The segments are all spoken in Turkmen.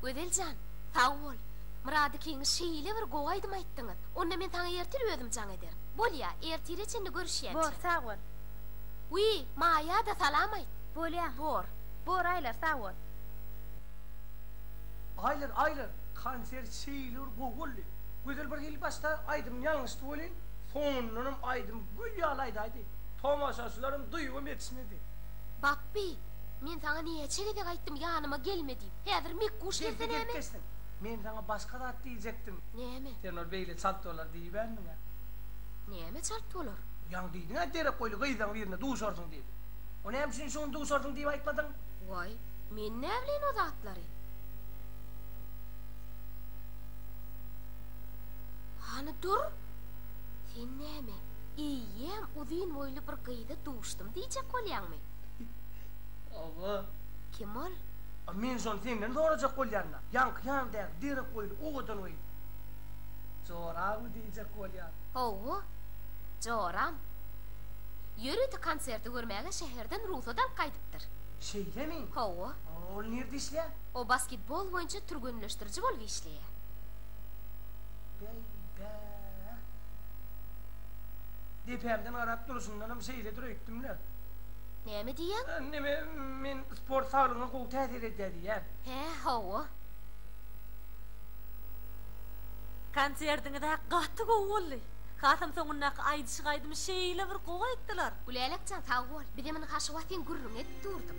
Gözel jan, sag bol! Myrat ikiňiz şeýle bir gowy aýdym aýtdyňyz. Onda men saňa ertir özüm jaň ederin. Bolýa, ertire çenli görüşýänçä. Bor, sag bol! Wiý, Maýa-da salam aýt! Bolýa. Bor. Bor, Aýlar, sag bol! Aýlar, Aýlar, konsert şeýle bir gowy boldy. Gözel bir hili başda aýdymyň ýalňyşdy welin, Soňundanam aýdymy gül ýaly aýdaýdy. Tomaşaçylaryň duýgam ýetişmedi. Bapby, men saňa näçe gezek aýtdym ýanyma gelme diýip. Häzir mekguş gelse näme? Geldi-gelip geçsin. Men saňa başga zat diýjekdim. Näme? Sen ol beýle çalt bolar diýibämdiň-ä. Näme çalt bolar? Ýaňy diýdiň-ä derek boýly gyzlaň birine duşarsyň diýip. O näme üçin şuny duşarsyň diýip aýtmadyň? Waý, men näbileýin o zatlary. Hany dur! Sen näme, eýýäm uzyn boýly bir gyza duşdum diýjek bolýaňmy? Hawa. Kim ol? A men şony senden sorajak bolýan-da. Ýaňky ýanymdaky derek boýly, owadan gyz. Joramy diýjek bolýan. Hawa, joram. Ýörite konserti görmäge şäherden rugsat alyp gaýdypdyr. Şeýlemi? Hawa. Ol nirde işleýär? O basketbol boýunça türgenleşdiriji bolup işleýär. Beýdä. Depämden garap durşundanam şeýledir öýtdüm-le. Näme diýýäň? Neme, men sport saglygyňa gowy täsir edýär diýýän. Hä, hawa. Konserdiňizä gaty gowy boldy. Hasam soňundaky aýdyşyk aýdymy şeýle bir gowy aýtdylar. Gülälekjan sag bol. Bizem indi Haşywatyň gürrüňi edip durduk.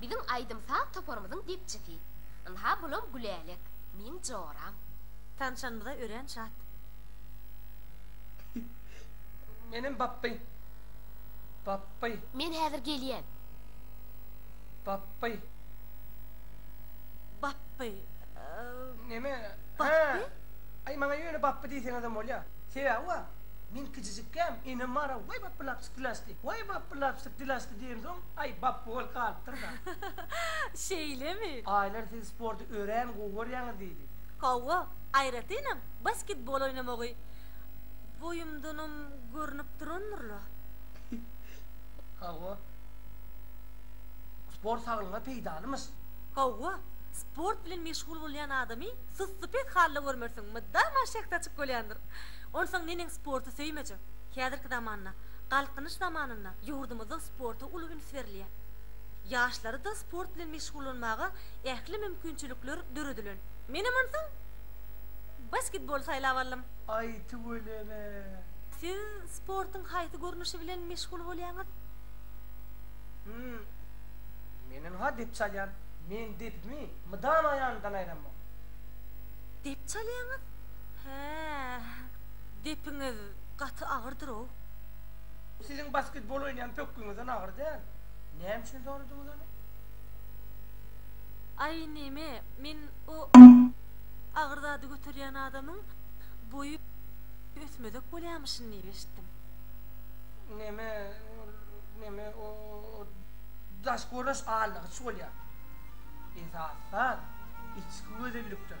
Biziň aýdym-saz toparymyzyň depçisi. Ynha bulam Gülälek, meň joram. Tanşanymyza örän şat. Menem bapby. Bapby. Men häzir gelýän. Bapby. Bapby. Neme? Hä. Aý, maňa ýöne bapby diýseňizem bolýar. Sebäbi bar. Men kijijikäm, enem bar-a, waý bapby lap çytdylaşdy. Waý bap. Bir lapjyk dil açdy diýensoň, aý, bapby bolup galypdyr-da. Şeýlemi? Aýlar siz sporty örän gowy görýäňiz diýdi. Hawa, aýratynam basketbol oýnamagy boýumdanam görnüp durandyr-la. Hawa. Sport saglygyňa peýdalymyş. Hawa, sport bilen meşgul bolýan adamy sussupes halda görmersiň, mydama şähdaçyk bolýandyr. Onsoň neneň sporty söýmejek? Häzirki zamanda. Galkynyş zamanynda ýurdumyzda sporta uly üns berilýär. Ýaşlara-da sport bilen meşgullanmaga ähli mümkinçilikler döredilen. Menem onsoň basketbol saýlap aldym. Aý tüweleme. Siz sportuň haýsy görnüşi bilen meşgul bolýaňyz? Hum. Menem-ha dep çalýan. Men depimi mydama ýanymdan aýramok. Dep çalýaňyz? Hä. Depiňiz. gaty agyrdyr-ow. Bu siziň basketbol oýnaýan pökgüňizden agyr däl. Näme üçin soradyňyz ony? Aý neme, men o agyr zady göterýän adamyň boýy ösmezek bolýamyşyn diýip eşitdim. Neme, ol, neme, o daş görnüş allygyç bolýar. Esasy zat, içki gözellikdir.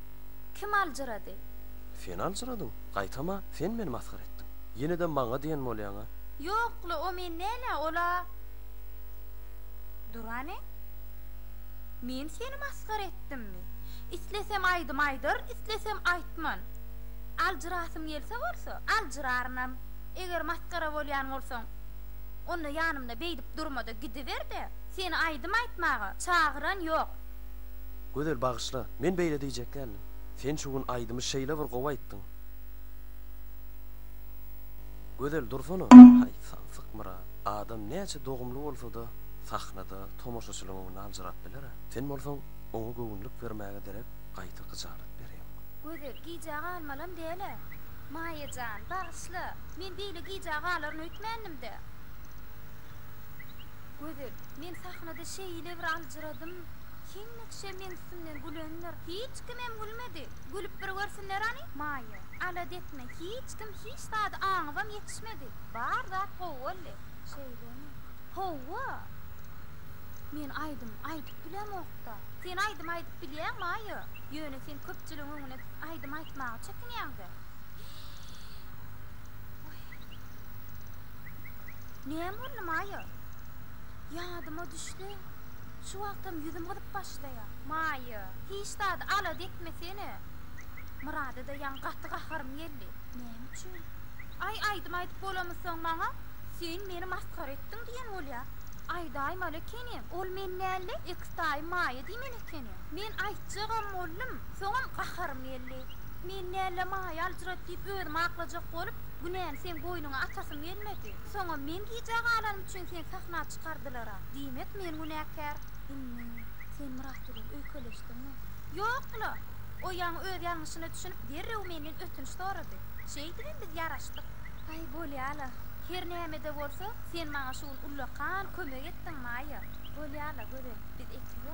Kim aljyrady? Sen aljyradyň. Gaýtam-a, sen meni masgara etdiň. Ýene-de maňa diýen bolýaň-a? Ýok-la, o men däl-ä, ol-a Durany. Men seni masgara etdimmi? Islesem aýdym aýdar, islesem aýtman. Aljyrasym gelse bolsa, aljyrarynam. Eger masgara bolýan bolsaň, onda ýanymda beýdip durma-da, gidiber-de, seni aýdym aýtmaga çagyran ýok. Gözel bagyşla, men beýle diýjek däldim. Sen şu gün aýdymy şeýle bir gowy aýtdyň. Gözel dursana. Haý, samsyk Myrat. Adam näçe dogumly bolsa-da, sahnada tomaşaçylyň öňünde aljyrap biler-ä. Sen bolsaň, oňa göwünlik bermäge derek, gaýta gyjalat berýäň. Gözel, gijä galmalam däl-ä. Maýa jan, bagyşla, men beýle gijä galaryn öýtmändim-dä. Gözel, men sahnada şeýle bir aljyrap. Soradym, Kim Nykşe meň üstümden gülendir? Hiç kimem gülmedi. Gülüp bir görsinler any, Maýa. Alada etme, hiç kim hiç zady aňybam ýetişmedi. Bar zat gowy boldy. Şeýlemi? Howwa! Men aýdym aýdyp bilemok-da. Sen aýdym aýdyp bilýäň, Maýa. Ýöne sen köpçüligiň öňüne çykyp aýdym aýtmaga çekinýäň-dä. Hyýý. Hyýý. Näme boldy, Maýa? Ýadyma düşse, Sen şu wagtam ýüzüm gyzyp başlaýa. Maýa, hiç zady alada etmesene. Myrada-da ýaňy gaty gaharym geldi. Näme üçin? Aý, aýdym aýdyp bolamy soň maňa? Sen meni masgara etdiň diýen bolýa. Aýdaýmaly ekenim, ol men däl-de, eks daýym Maýa diýmeli ekeni. Men aýtjagam boldum, soňam gaharym geldi. Men däl-de Maýa aljyrady diýip özümi aklajak bolup, günäni seň boýnuňa atasym gelmedi. Soňam men gijä galanym üçin sen sahna Gutgardylar-a. Diýmek, men günäkär? Indi, sen Myrat bilen öýkeleşdiňmi? Ýok-la! O ýaňy öz ýalňyşyna düşünip, derrew menden ötünç sorady. Şeýdibem biz ýaraşdyk. Aý, bolýa-la. Her näme-de bolsa, sen maňa şu gün ullakan kömek etdiň, Maýa. Bolýa-la, Gözel, biz ekizä.